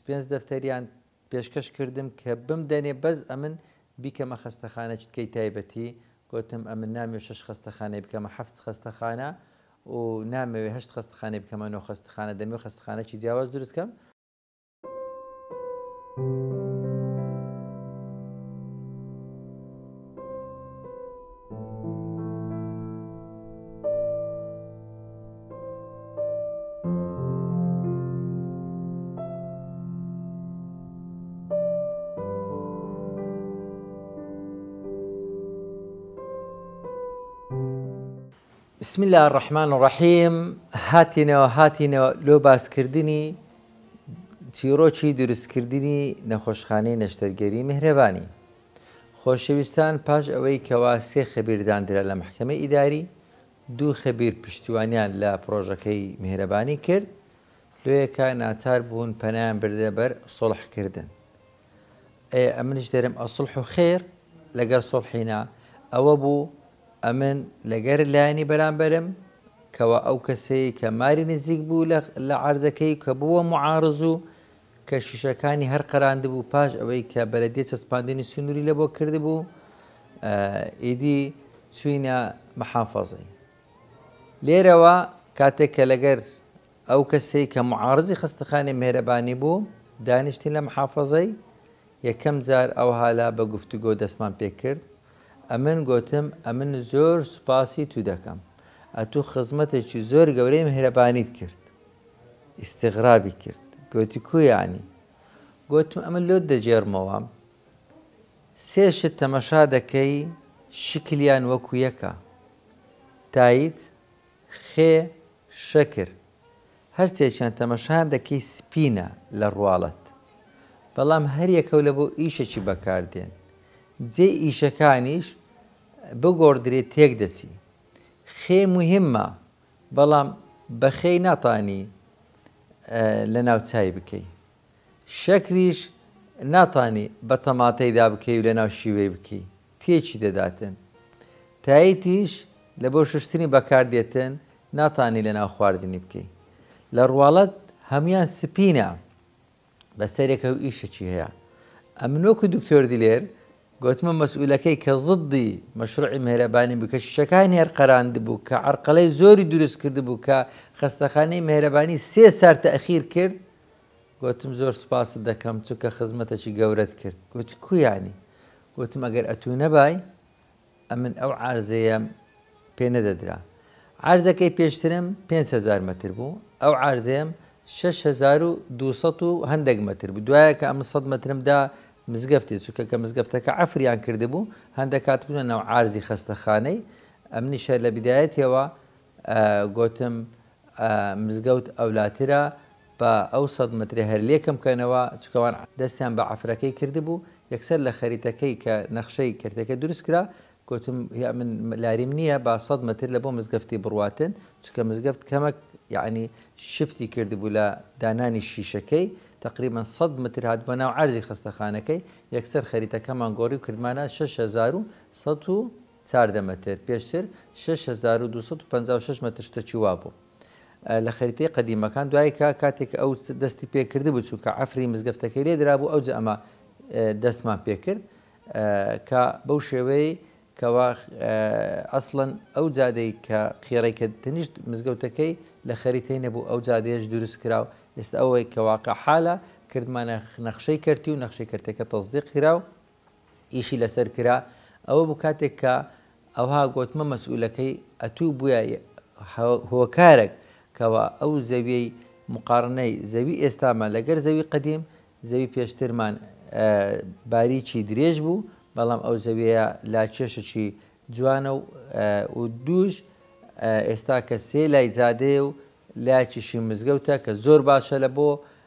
پێنج دەفتەریان پێشکەش کردم کە بمدەنێ بەس ئەمن بیکەمە خەستەخانە چتکەی تایبەتی گۆتم ئەمن نامەوێ شەش خەستەخانەی بکەمە حەفت خەستەخانە و نامەوێ هەشت خەستەخانەی بکەمە نۆ خەستەخانە دەمەوێ خەستەخانەکی جیاواز دروست کەم بسم الله الرحمن الرحیم هاتینەوە هاتینەوە لۆ باسکردنی چیرۆکی دروستکردنی نەخۆشخانەی نەشتەرگەری میهرەبانی خۆشەویستان پاش ئەوەی کەوا سێ خەبیر داندرا لە مەحکەمەی ئیداری، دوو خەبیر پشتیوانیان لە پڕۆژەکەی میهرەبانی کرد، لۆیەکە ناچار بوون پەنایان بردە بەر سوڵح کردن. ئەیە ئەمنیش دەرم الصلح خیر، لەگەر سوڵحی نا، ئەوە بوو ئەمن لەگەر لایەنی بەرامبەرم، کەوا ئەو کەسەی کە ماری نزیک بوو لە عەرزەکەی کە بووە معارض و کە شیشەکانی هەر قەراندبوو پاش ئەوەی کە بەلەدیە چەسپاندنی سنووری لەبۆ کردبوو ئیدی چوینە محافەزەی لێرەوە کاتێک کە لەگەر ئەو کەسەی کە معارزی خستەخانی مێرەبانی بوو دانیشتین لە محافەزەی یەکەم جار ئەو هالا بە گفتوگۆ دەستمان پێ کرد ئەمن گوتم ئەمن زۆر سوپاسی تو دەکەم ئەتو خزمەتێکی زۆر گەورەی مهرەبانیت کرد ئیستغرابی کرد گۆتی کو یانی؟ گۆتم ئەمن لۆت دەگێڕمەوە سێ شت تەمەشا دەکەی شکلیان وەکو یەکە تایت، خێ، شەکر هەرسێکیان تەمەشایان دەکەی سپینە لە ڕواڵەت بەڵام هەریەکەو لە بۆ ئیشەکی بەکار دێن جێی ئیشەکانیش بگۆڕدرێ تێک دەچی خێ موهیمە بەڵام بەخێی ناتانی لەناو چای بکەی. شەکریش ناتانی بە تەماتەیدا بکەی و لەناو شیوەی بکەی، تێکی دەداتن. تایتیش لە بۆ شوشتنی بەکار دێتن، ناتانی لەناو خواردنی بکەی. لە ڕواڵەت هەموویان سپینە. بە سەرێکە و ئیشەکی هەیە. ئەمن وەکو دکتۆر دلێر گۆتمە مەسئولەکەی کە زدی مەشروعی مهرەبانی بوو کە شیشەکانی هەر قەراندبوو کە عەرقەلەی زۆری دروست کردبوو کە خەستەخانەی مهرەبانی سێ سار تاخیر کرد گۆتم زۆر سپاست دەکەم چونکە خزمەتەکی گەورەت کرد گۆتی کو یانی گۆتم ئەگەر ئەتوو نەبای ئەمن ئەو عەرزەیەم پێ نەدەدرا. عەرزەکەی پێشترم پێنج هەزار مەتر بوو، ئەو عەرزەیەم شەش هەزار و دوو سەد و هەندەک مەتر بوو، دوایە کە ئەمن سەد مەترم دا مزگەفتێ، چونکە کە مزگەفتەکە عەفریان کردبوو، هەندەک هاتبوونە ناو عەرزی خەستەخانەی، ئەمنیش هەر لە بدایەتیەوە گۆتم، مزگەوت ئەولاترە، با ئەو سەد مترە هەر لێ کەم کەنەوە، چونکە وان دەستیان بە عەفرەکەی کردبوو، یەکسەر لە خەریتەکەی کە نەخشەی کەرتەکە دروست کرا، گۆتم، هیا من لاریم نییە، با سەد متر لە بۆ مزگەفتی بڕواتن، چونکە مزگەفت کەمەک یەعنی شفتی کردبوو لە دانانی شیشەکەی، تەقریبەن سەد متر هاتبووە ناو عەرزی خەستەخانەکەی، یەکسەر خەریتەکەمان گۆڕی و کردمانە شەش هەزار و سەد و چاردە مەتر، پێشتر شەش هەزار و دوو سەد و پەنجا و شەش مەتر شتەکی وا بوو لە خەریتەی قەدیمەکان دوایکە کاتێک ئەو دەستی پێ کردبوو چونکە عەفری مزگەفتەکەی لێ درابوو ئەوجە ئەمە دەستمان پێ کرد کە بەو شێوەی کەوا ئەسڵەن ئەو جادەی کە قێڕەی کە تەنیشت مزگەوتەکەی لە خەریتەی نەبوو ئەو جادەیەش دروست کرا و ئێستا ئەوەی کە واقع حالە کردمانە نەخشەی کەرتی و نەخشەی کەرتەکە تەزدیق کرا و ئیشی لەسەر کرا ئەوە بوو کاتێک کە ئەوها گۆتمە مەسئولەکەی ئەتوو بویە هۆکارەک کەوا ئەو زەویەی مقاڕنەی زەوی ئێستامە لەگەر زەوی قەدیم زەوی پێشترمان باریکی درێژ بوو بەڵام ئەو زەویەیە لا کێشەکی جوانە و دووش ئێستا کە سێ لای جادەیە و لاکیشی مزگەوتە کە زۆر باشە لە بۆ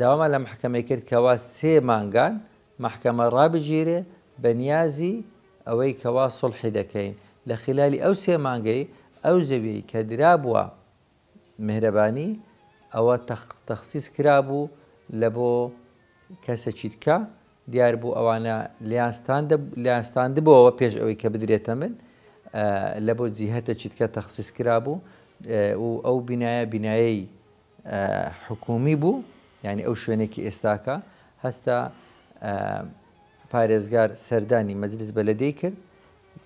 داوامان لە مەحکەمەی کرد کەوا سێ مانگان مەحکەمە ڕابگیرێ بە نیازی ئەوەی کەوا سوڵحی دەکەین لە خیلالی ئەو سێ مانگەی ئەو زەویەی کە درابووە مێهرەبانی ئەوە تەخسیس کرابوو لە بۆ کەسەکی دکە دیار بوو ئەوانە لیان ستاندبەوە پێش ئەوەی کە بدرێتە من لە بۆ جیهتە چیتکە تەخسیس کرابوو و ئەو بینایە بینایی حکوومی بوو، یانی ئەو شوێنەی کە ئێستاکە هەستە پارێزگار سەردانی مەجلیس بەلەدێی کرد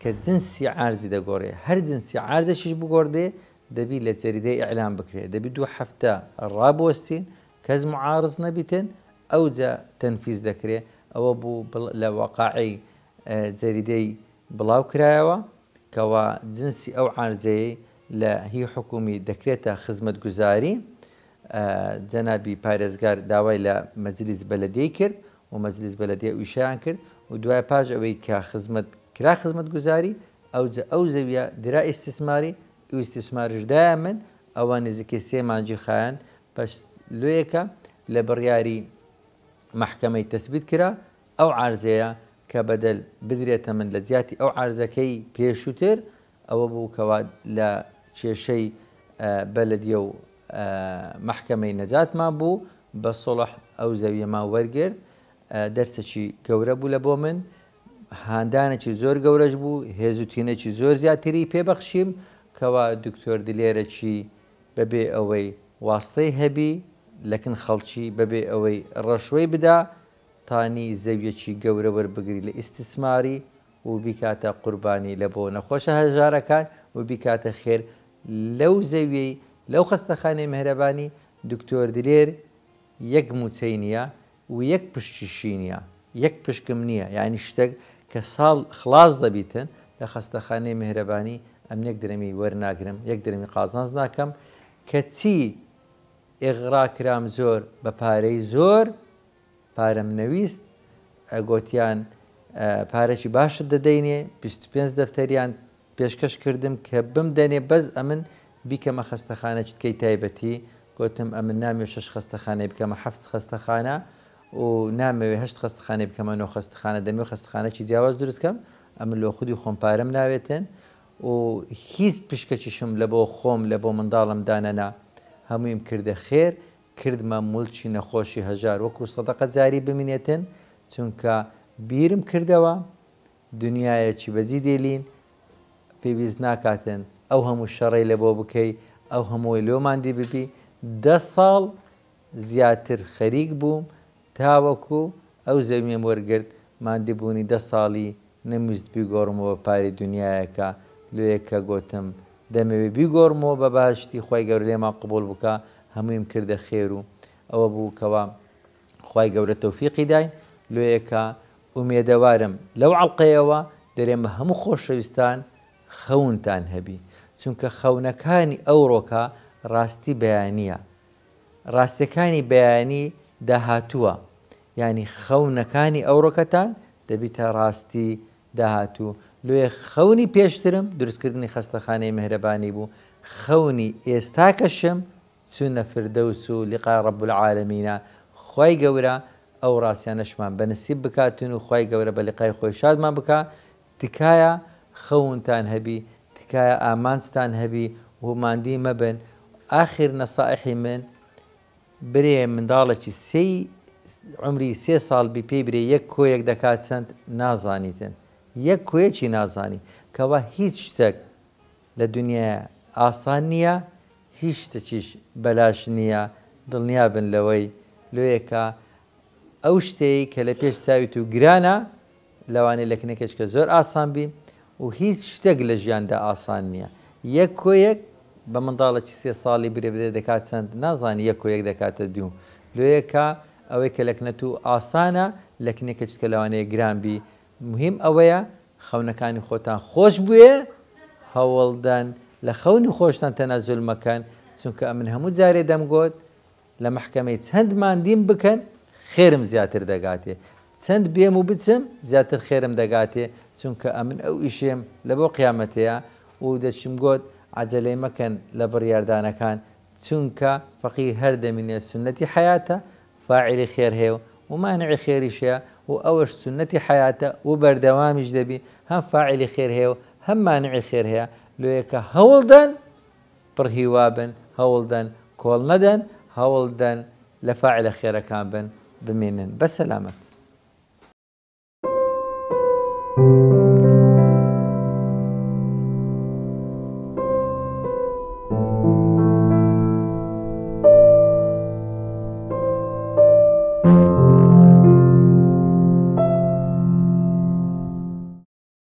کە جنسی عارزی دەگۆرێ هەر جنسی عارزەشیش بگۆردێ دەبی لە جەریدەی ئیعلام بکرێ دەبی دوو هەفتە ڕابوەستین کەس معارز نەبیتن ئەوجا تەنفیز دەکرێ ئەوە بوو لە وەقاعی جەریدەی بڵاو کرایەوە کەوا جنسی ئەو عارزەیە لە هی حکومی دەکرێتە خزمەتگوزاری، جەنابی پارێزگار داوای لە مەجلیس بەلەدێی کرد و مەجلیس بەلەدێ ئویشیان کرد و دوای پاش ئەوەی کە خزمەت کرا خزمەتگوزاری ئەوجە ئەو زەویە درا ئیستیسماری ئویستیسمارش دایە من ئەوە نزیکەی سێ مانجی خایاند پەش لۆیەکە لە بڕیاری مەحکەمەی تەسبیت کرا ئەو عارزەیە کە بەدەل بدرێتە من لە جیاتی ئەو عارزەکەی پێشوتر ئەوە بوو کەوا لە کێشەی بەلدیە و مەحکەمەی نەجاتمان بوو بە سوڵح ئەو زەویەمان وەرگرت دەرسێکی گەورە بوو لە بۆ من هاندانێکی زۆر گەورەش بوو هێز و تینێکی زۆر زیاتری پێبەخشیم کەوا دکتۆر دلێرەکی بەبێ ئەوەی واستەی هەبی لەکن خەڵکی بەبێ ئەوەی ڕەشوەی بدا تانی زەویەکی گەورە وەربگری لە ئیستسماری و بیکاتە قوربانی لە بۆ نەخۆشە هەژارەکان و بیکاتە خێر لەو زەویەی لەو خەستەخانەی مێهرەبانی دکتۆر دلێر یەک موچەی نیە و یەک پشکیشی نیە یەک پشکم نیە یانی شتەک کە ساڵ خڵاس دەبیتن لە خەستەخانەی مێهرەبانی ئەمن یەک درەمی وەرناگرم یەک درەمی قازانج ناکەم کە چی ئیغڕا کرام زۆر بە پارەی زۆر پارەم نەویست گۆتیان پارەکی باشت دەدەینێ بیست و پێنج دەفتەریان پێشکەش کردم کە بمدەنێ بەس ئەمن بیکەمە خەستەخانە چ بکەی تایبەتی گۆتم ئەمن نامەوێ شەش خەستەخانەی بکەمە حەفت خەستەخانە و نامەوێ هەشت خەستەخانەی بکەمە نۆ خەستەخانە دەمەوێ خەستەخانەکی جیاواز دروست کەم ئەمن لۆ خودی خۆم پارەم ناوێتن و هیچ پشکەکیشم لە بۆ خۆم لە بۆ منداڵم دانەنا هەموویم کردە خێر کردمە مولکی نەخۆشی هەژار وەکو سەدەقە جاری بمینێتن چونکە بیرم کردەوە دنیایەکی بەجی دێلین پێویست ناکاتن ئەو هەموو شەڕەی لەبۆ بکەی ئەو هەمووەی لۆ ماندی ببی دە ساڵ زیاتر خەریک بووم تاوەکو ئەو زەویەم وەرگرت، ماندبوونی دە ساڵی نەمویست بیگۆڕمەوە پاری دونیایەکە، لۆیە کە گۆتم دەمەوێ بیگۆڕمەوە بە بەهەشتی خوای گەورە لێمان قبوڵ بکا هەموویم کردە خێر و ئەوە بوو کەوا خوای گەورە تۆفیقی دای لۆیە کە ئومێدەوارم لەو عەڵقەیەوە درێمە هەموو خۆشەویستان خەونتان هەبی چونکە خەونەکانی ئەوڕۆکە ڕاستی بەیانیە ڕاستیەکانی بەیانی داهاتووە یانی خەونەکانی ئەوڕۆکەتان دەبیتە ڕاستی داهاتوو لۆیە خەونی پێشترم دروستکردنی خەستەخانەی مێهرەبانی بوو خەونی ئێستاکەشم چونە فردەوس و لقا رب العالمینا خوای گەورە ئەوڕاستیانەشمان بەنسیب بکاتون و خوای گەورە بەلقای خۆی شادمان بکا تکایە خەونتان هەبی تکایە ئامانجتان هەبی و ماندی مەبن ئاخر نەسائحی من برێ منداڵەکی سێی عمری سێ ساڵ بی پێی برێ یەک کۆیەک دەکات چەند نازانیتن یەک کۆیەکی نازانی کەوا هیچ شتەک لە دنیایا ئاسان نییە هیچ شتەکیش بەلاش نییە دڵنیا بن لەوەی لۆیەکە ئەو شتەی کە لە پێش چاوی تو گرانە لەوانەیە لەکنەکێچکە زۆر ئاسان بی و هیچ شتێک لە ژیاندا ئاسان نیە یەک کۆ یەک بە منداڵەکی سێ ساڵی برێ بدەی دەکات چەند نازانی یەک کۆ یەک دەکاتە دوو لۆیە کا ئەوەی کە لەکنەتو ئاسانە لەکنەکێچکە لەوانەیە گران بی مهیم ئەوەیە خەونەکانی خۆتان خۆش بوێ هەوڵدەن لە خەونی خۆشتان تەنەزول مەکەن چونکە ئەمن هەموو جارێ دەمگۆت لە مەحکەمەی چەند ماندیم بکەن خێرم زیاتر دەگاتێ چەند بێم و بچم زیاتر خێرم دەگاتێ چونکە ئەمن ئەو ئیشێم لەبۆ قیامەتەیە و دەچم گۆت عەجەلەی مەکەن لە بڕیاردانەکان چونکە فەقیر هەر دەمینێ سوننەتی حەیاتە فاعیلی خێر هەیە و مانعی خێریش هەیە و ئەوەش سوننەتی حەیاتە و بەردەوامیش دەبی هەم فاعیلی خێر هەیە و هەم مانعی خێر هەیە لۆیەکە هەوڵدەن پڕ هیوا بن، هەوڵدەن، کۆڵ مەدەن، هەوڵدەن لە فاعلە خێرەکان بن، بمێنن بە سەلامەت.